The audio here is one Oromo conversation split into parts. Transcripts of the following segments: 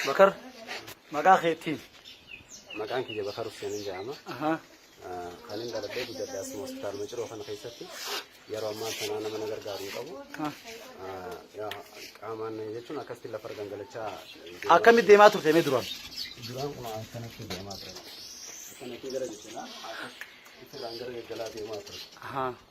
Bakar maqaa keetiin. Maqaan kiyya Bakar Husseinin jedhama. Kan inni dhalatee guddadhe asuma hospitaaluma ciroo kana keessatti yeroo ammaa sanaa nama na gargaaru hin qabu. Qaamaan jechuun akkasitti lafa gangalachaa. Akkamitti deemaa turte mee duraan? Duraan kun akkanatti deemaa ture. Akkanatti gara jechaa akkas ittirraan gara gaggalaa deemaa ture.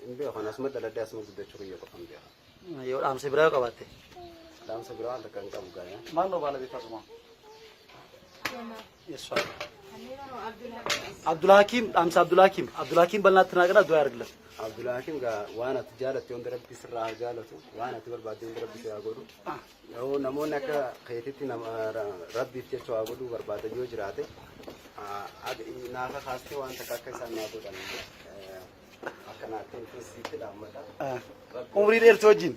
Hin beeku kan asuma dhaladhee asuma guddachuu kiyya qofa hin beeku. Yoo dhaamsa biraa yoo qabaatte. Dhaamsa biraa waan takka hin qabu gaaya. Maal noo baala beekaa tumaa? Yesuus. Abdulhakiim dhaamsa Abdulhakiim Abdulhakiim bal'inaatti naa gara du'aa argila. Abdulhakiim gaa waan ati jaalatte hundi rabbi sirraa haa jaalatu waan ati barbaadde hundi rabbi si haa godhu. Yoo namoonni akka keetitti nama ra- rabbiif jecha waa godhuu barbaadan yoo jiraate haa- ag- naa kakaastee waan takka akka isaan naa godhan. eh, umrii dheertuu wajjin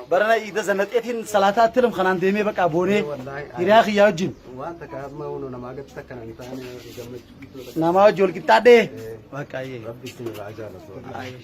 barana iida zanaxeetiin salaataa attilam kanaan deemee baqaa boonee hiriyaa kiyyaa wajjin namaa wajji wal qixxaadhee baqaa